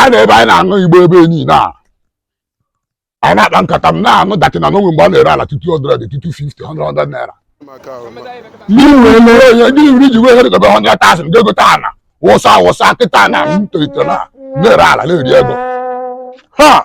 a na ebe anyị na-aṅụ igbo ebe niile a anyị na-akpa nkata m na-anụ that na o nwe mgbe a na-ere ala two two 100 two two 50 100 naira ndị nri ji wee debe ha nyata a sị ndị egote ana wụsa awụsa kịta na m tolitere na na-ere ala na-eri ego ha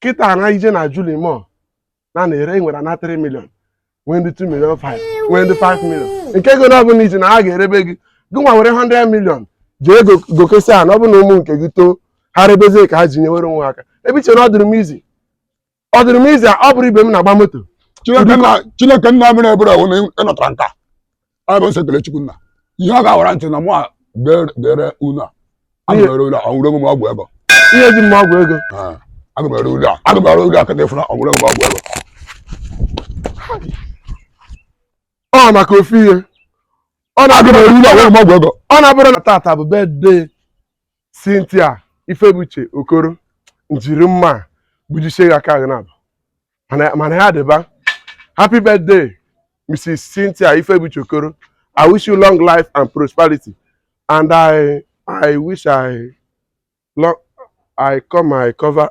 kịta na i jee na Julimọ na na-ere e nwere ana 3 million nwee ndị 2 million 5 nwee ndị 5 million nke ego na ọ bụla iji na ha ga-erebe gị gị nwa were 100 million jee go- gokesi a na ọ bụ na ụmụ nke gị too ha rebezie ka ha ji nyewere onwe ha aka ebe i chere na ọ dịrị m easy ọ dịrị m easy a ọ bụrụ ibe m na-agba moto Chineke nna Chineke nna mere ebere ahụ na ị nọtara nka ọ bụ sọ ekele Chukwu nna ihe ọ ga-awara ntị na mụ a bere- bere unu a aga m ere ule a ọnwụrụ onwe m ọgwụ ego ihe ji mma ọgwụ ego Ee, aga m ere ule a aga m ere ule a kịta ịfụna ọnwụrụ onwe m ọgwụ ego ọ maka ofu ihe ọ aga m na-abụrụ ere ule a ọnwụrụ m ọgwụ ego ọ na-abụrụ na tata bụ birthday Cynthia Ifebuche Okoro njiri mma a gbujisie ya aka gị na-abụ mana mana ya dịba happy birthday Mrs. Cynthia Ifebuche Okoro I wish you long life and prosperity and I I wish I long I come I cover